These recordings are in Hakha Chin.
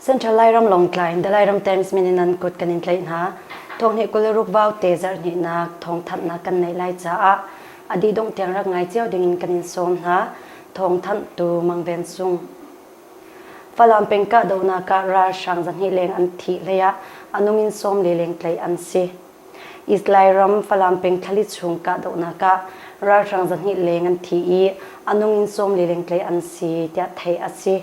Central Lairam Longtlai in Dalairam Times min in nan kut kan in tlaih hna. Thawngnih kul ruk bau te zarhnihnak thawngthanhnak kan neih lai caah a dih dongh tiang rak ngai cio ding in kan in sawm hna. Thawngthanh tu Mang Ven Sung. Falam peng kahdohnak ah ralhrang zahnih leng an thi hlei ah a nung in sawm le leng tlaih an si. Islai ram Falam peng thlali chung kahdohnak ah ralhrang zahnih leng an thi i a nung in sawm le leng tlaih an si tiah theih a si.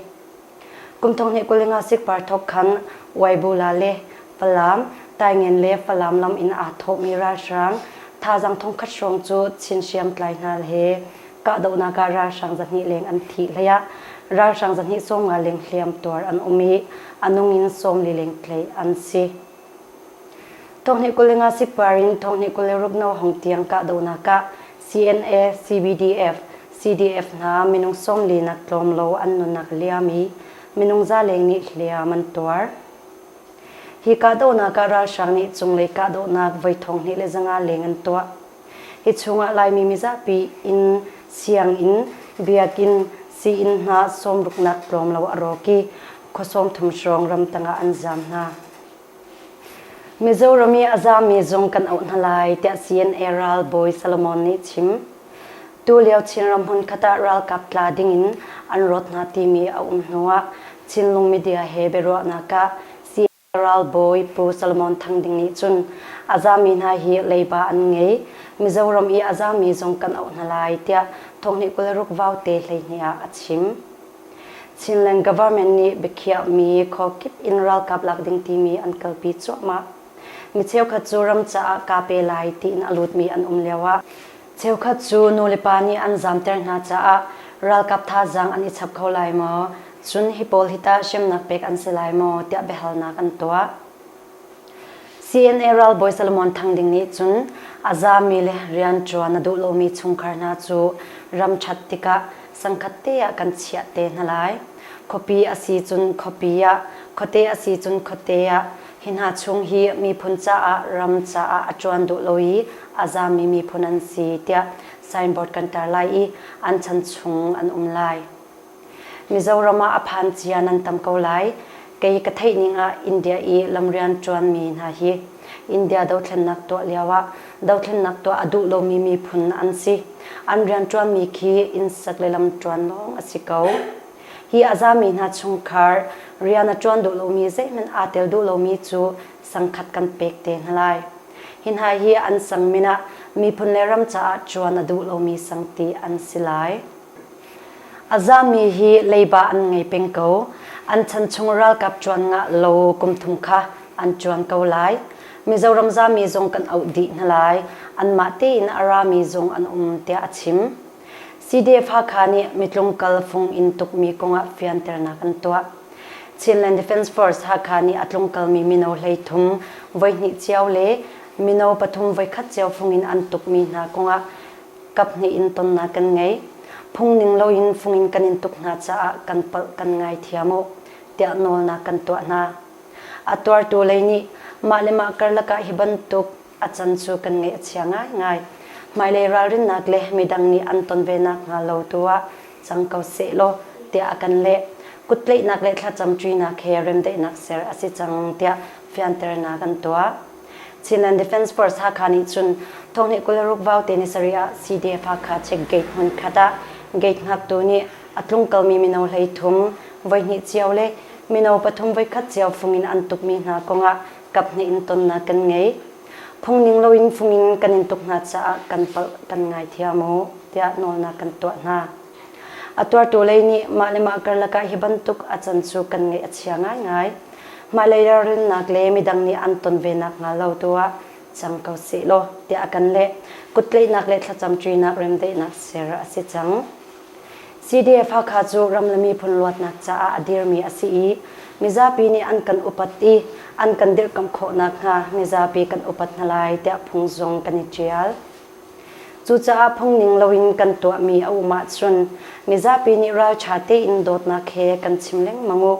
Kum thong hnih kuling ah sikpar thok khan Waibula le Falam, Taingen le Falam lam in aa thawhmi ralhrang thazang thongkhat hrawng cu Chin hriamtlai hna he kahdohnak ah ralhrang zahnih leng an thi hlei ah ralhrang zahnih sawm nga leng hliamtuar an um i a nung in sawmli leng tlei an si. Thonghni kul le nga sipar in thonghni kul le rupno hong tiang kahdohnak ah CNA, CBDF, CDF hna minung sawmli nak tlawm lo an nunak liam i minung za leng nih hliam an tuar. Hi kahdohnak ah ralhrang nih cunglei kahdohnak voi thonghni le zanga leng an tuah. Hi chungah Laimi mizapi inn, sianginn, biakinn, sii-inn hna sawmruknak tlawmlo a rawk i khua sawmthum hrawng ramtang ah an zam hna. Mizoram i a zammi zung kan auh hna lai tiah CNA ralbawi Solomon nih chim. Tulio Chinram hmunkhat ah ralkap tla dingin an rawt hna timi a um hnuah Chinlung media he biaruahnak ah Ralbawi Pu Solomon Thang Ding nih cun a zami hna hi leiba an ngei, Mizoram i a zami zong kan auh hna lai tiah thawhni kul ruk vaute hleihnih ah a chim. Chinland Government nih biakhiahmi khuakip in ralkap lak ding timi an kalpi cuahmah. Mi cheukhat cu ram caah kaa pe lai tiin a lutmi an um lio ah Cheukhat cu nulepa nih an zamter hna caah ralkap thazaang an i chap kho lai maw? Cun hi pawl hi tah hremnak pek an si lai maw? tiah biahalnak an tuah. CNA ralbawi Solomon Thang Ding nih cun a zami le rianṭuan a duh lomi chungkhar hna cu ram ṭhat tikah sangkhat te ah kan chiah te hna lai. Khuapi a si cun khuapi ah, khuate a si cun khuate ah, Hi hna chung hi miphun caah ram caah a ṭuan duh lo i a zaammi miphun an si tiah signboard kan tar lai i an chan chung an um lai. Mizoram ah a phan cia nan tam ko lai. Kei ka theihning ah India i lamrian ṭuanmi hna hi India dothlennak tuah lioah dothlennak tuah a duh lomi miphun an si. An rianṭuanmi khi innsek le lamṭuan lawng a si ko. Hi a zami hna chungkhar rian a ṭuan duh lomi zeihmanh aa tel duh lomi cu sangkhat kan pek te hna lai. Hi hna hi an sang min ah miphun le ram caah ṭuan a duh lomi sang ti an si lai. A zami hi leiba an ngei peng ko. An chan chung ralkap ṭuan ngah lo kum thum kha an ṭuan ko lai. Mizoram zami zong kan auh dih hna lai. Anmah tein a rami zong an um, tiah a chim. CDF-Hakha nih mitlung kal fung in tukmi kong ah fianternak an tuah. Chinland Defence Force Hakha nih a tlungkalmi mino hleithum voihnih cio le mino pathum voikhat cio fung in an tukmi hna kong ah kaphnih in tonnak kan ngei. Phung ning loin fung in kan in tuk hna caah kan palh kan ngaithiam u, tiah nawlnak kan tuah hna. A tuartu lei nih mah le mah karlak ah hi bantuk A can cu kan ngaih a chia ngaingai. Hmailei ralrinnak le midang nih an ton ve nakhnga lo tu ah cang ko seh law tiah a kan leh. Kuttlaihnak le thlacam ṭuinak he remdaihnak ser a si cang tiah fianternak an tuah. Chinland Defence Force Hakha nih cun thawngnih kul ruk vaute nisarih ah CDF-Hakha check gate hmunkhat ah gate hngaktu nih a tlungkalmi mino hleithum voihnih cio le mino pathum voikhat cio fung in an tukmi hna kong ah Kaphnih in tonnak kan ngei. Phungning loin fung in kan in tuk hna caah kan palh kan ngaithiam u tiah nawlnak kan tuah hna. A tuartu lei nih mah le mah karlak ah hi bantuk a can cu kan ngaih a chia ngaingai. Mah lei ralrinnak le midang nih an ton ve nakhnga lo tu ah cang ko seh law tiah a kan leh. Kuttlaihnak le thlacam ṭinak remdaihnak ser a si cang. CDF-Hakha cu ram le miphun luatnak caah a dirmi a si i mizapi nih an kan upat i an kan dirhkamh khawh nakhnga mizapi kan upat hna lai tiah phung zong kan i ṭial. Cucaah phung ning loin kan tuahmi a um ahcun mizapi nih ralṭha tein dawtnak he kan chim lengmang u.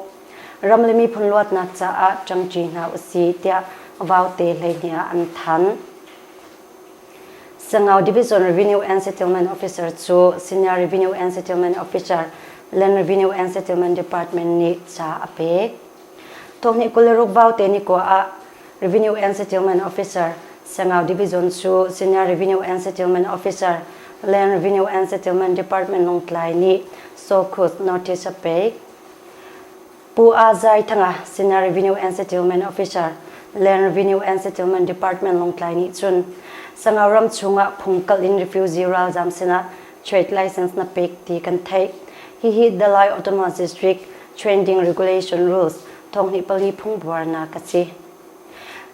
Ram le miphun luatnak caah ṭangṭi hna u sih tiah vaute hleihnih ah an thanh. Sangau Division Revenue and Settlement Officer cu Senior Revenue and Settlement Officer Land Revenue and Settlement Department nih ca a pek. Thawhnih kul le rukbau te ni ko ah Revenue and Settlement Officer Sangau Division cu Senior Revenue and Settlement Officer Land Revenue and Settlement Department Longtlai nih Sawkhut notice a pek. Pu A Zai Thanga, Senior Revenue and Settlement Officer, Land Revenue and Settlement Department Lawngtlai nih cun Sangau ram chungah phung kalh in refugee ralzaam sinah trade license na pek ti kan theih. Hihi Dalai Autonomous District Training Regulation Rules thawngnih pali phungbuarnak a si.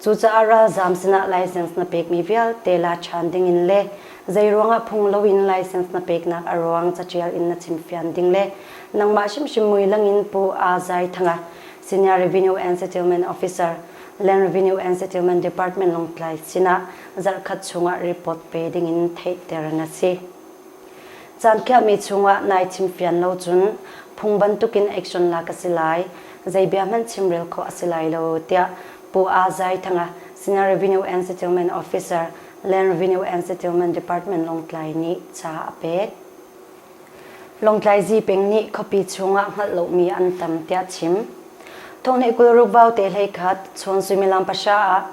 Cucaah ralzaam sinah license na pekmi vialte la ṭhan dingin le zeiruangah phung loin license na peknak a ruang caṭial in na chimfian ding le nangmah hrimhrim muilang in Pu Aa Zai Thanga, Senior Revenue and Settlement Officer, Land Revenue and Settlement Department Lawngtlai sinah zarhkhat chungah report pe dingin theihter na si. Caan khiahmi chungah nai chimfian lo cun phung bantukin action lak a si lai, zei bia hmanh chimrel khawh a si lai lo, tiah Pu Aa Zai Thanga, Senior Revenue and Settlement Officer, Land Revenue and Settlement Department Lawngtlai nih ca a pek. Lawngtlai Zipeng nih khuapi chungah hngalh lomi an tam tiah chim. Thawngnih kul ruk vaute hlei khat, chawn suimilam pahra ah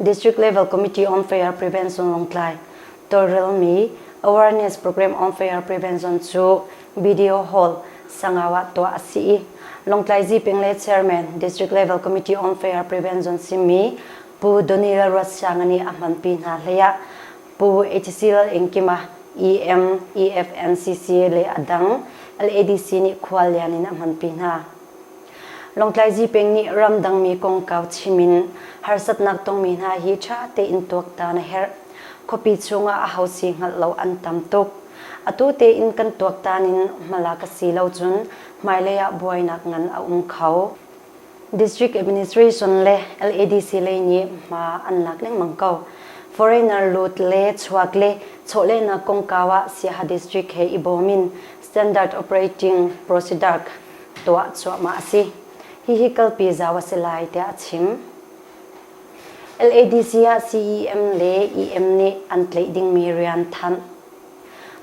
District Level Committee on Fair Prevention Lawngtlai tawlrelmi Awareness Program on Fair Prevention cu Video Hall, Sangau ah tuah a si i Lawngtlai Zipeng le Chairman, District Level Committee on Fair Prevention simi Pu Donny Lalruatsiangani a hmanpi hna hleiah Pu HC Lalengkima, EM, EFNCC le a dang LADC nih khuallian in a hmanpi hna. Lawngtlai Zipeng nih ramdangmi kongkau chim in harsatnak tongmi hna hi ṭha tein tuaktan a herh. Khuapi chungah aho si hngalh lo an tam tuk. Atu tein kan tuaktan in hmala ka si lo cun hmailei ah buainak ngan a um kho. District Administration le LADC lei nih hma an lak lengmang ko. Foreigner lut le chuak le chawhlehnak kongkau ah Siaha District he i bawm in standard operating procedure tuah cuahmah a si. Hihi kalpi zau a si lai tiah a chim. LADC ah CEM le EM nih an tlaih dingmi rian thanh.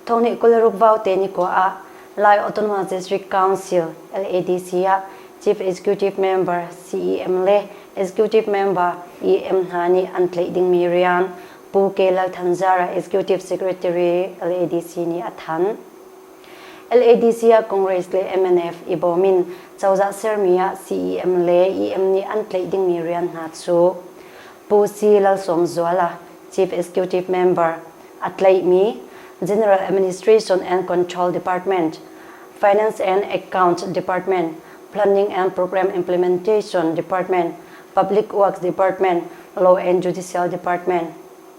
Thawngnih kul ruk vau te ni ko ah Lai Autonomous District Council LADC ah Chief Executive Member CEM le Executive Member EM hna nih an tlaih dingmi rian Pu Ke Lal Than Zara Executive Secretary LADC nih a thanh. LADC ah Congress le mnf i bawm in cozah sermi ah CEM le EM nih an tlaih dingmi rian hna cu Pu Si Lalsawmzuala, Chief Executive Member, a tlaihmi General Administration and Control Department, Finance and Accounts Department, Planning and Program Implementation Department, Public Works Department, Law and Judicial Department,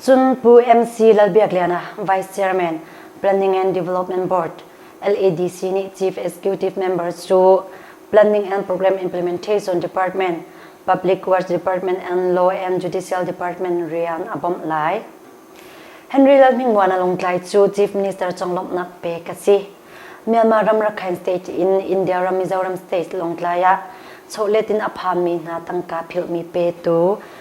Cun Pu MC Lalbiakliana, Vice Chairman, Planning and Development Board, LADC nih Chief Executive Members cu Planning and Program Implementation Department, Public Works Department and Law and Judicial Department rian a bawmh lai. Henry Lalhmingmuana Lungtlai cu Chief Minister conglawmhnak pek a si. Myanmar ram Rakhine State in India ram Mizoram State Lawngtlai ah chawhletin a phanmi hna tangka philhmi petu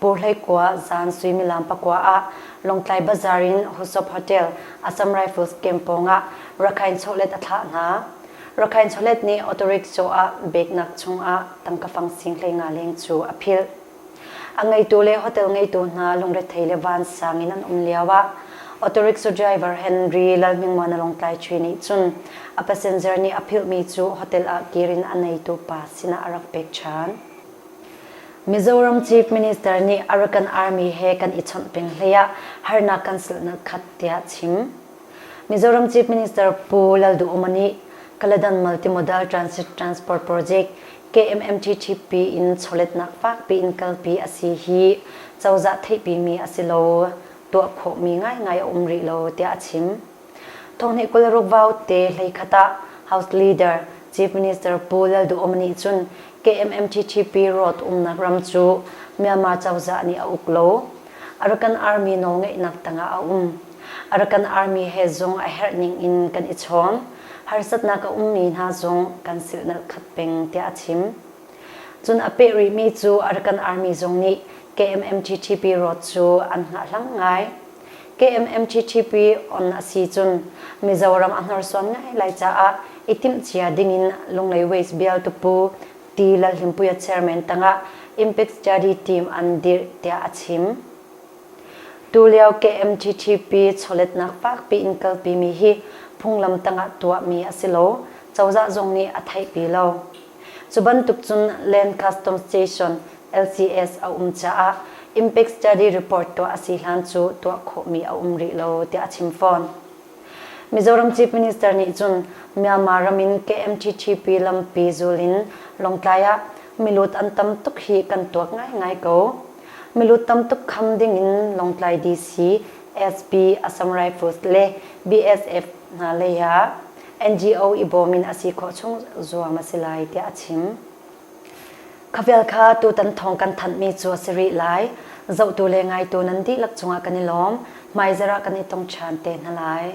Purhlei kua zan suimilam pakua ah Lawngtlai Bazaar in Husop Hotel Assam Rifles camp pawng ah rakhain chawlet a thlah hna. Rakhain chawlet nih auto rickshaw ah beknak chungah tangka fang singhlei nga leng cu a philh. A ngeitu le hotel ngeitu hna lungrethei le vansang in an um lio ah auto rickshaw driver Henry Lalhmingmuana Lawngtlai Chui nih cun a passenger nih a philhmi cu hotel ah kir in a neitu pa sinah a rak pek ṭhan. Mizoram Chief Minister nih Arakan Army he kan i chawnh peng hlei ah harnak kan silhnak khat tiah a chim. Mizoram Chief Minister Pu Lalduhoma nih Kaladanmal Timodal Transit Transport Project KMMTTP in chawletnak fakpi in kalpi a si hi cozah theihpimi a si lo, tuah khawhmi ngaingai a um rih lo tiah a chim. Thong nih kul ruk vaute hleikhat ah House Leader Chief Minister Pu Lalduhom nih cun KMMTTP rawt umnak ram cu Myanmar cozah nih a uk lo. Arakan Army nawl ngeihnak tangah a um. Arakan Army he zung a herh ning in kan i chawm. Harsatnak a ummi hna zong kan silhnalh khat peng tiah a chim. Cun a peh rihmi cu Arakan Army zong nih KMMTTP rawt cu an hngahhlang ngai. KMMTTP on a si cun Mizoram a hnorsuan ngaingai caah i timhcia dingin Lunglei Waste Bialtupu Pi Lalhlimpuia chairman tangah Impact Study Team an dirh tiah a chim. Tulio KMTTP chawletnak fakpi in kalpimi hi phunglam tangah tuahmi a si lo, cozah zong nih a theihpi lo. Cu bantuk cun Lancaster Station, LCS, a um caah Impact Study report tuah a si hlan cu tuah khawhmi a um rih lo tiah a chim fawn. Mizoram Chief Minister nih cun Myanmar ram in KMTTP lampi zul in Lawngtlai ah milut an tam tuk hi kan tuak ngaingai ko. Milut tam tuk kham ding in Lawngtlai DC, SP, Assam Rifles le BSF hna lei ah NGO i bawm in a si khawh chung zuang a si lai tiah a chim. Khavial kha tutan thawng kan thanhmi cu a si rih lai. Zohtu le ngaitu nan dihlak cungah kan i lawm, hmaizarh ah kan i tong ṭhan te hna lai.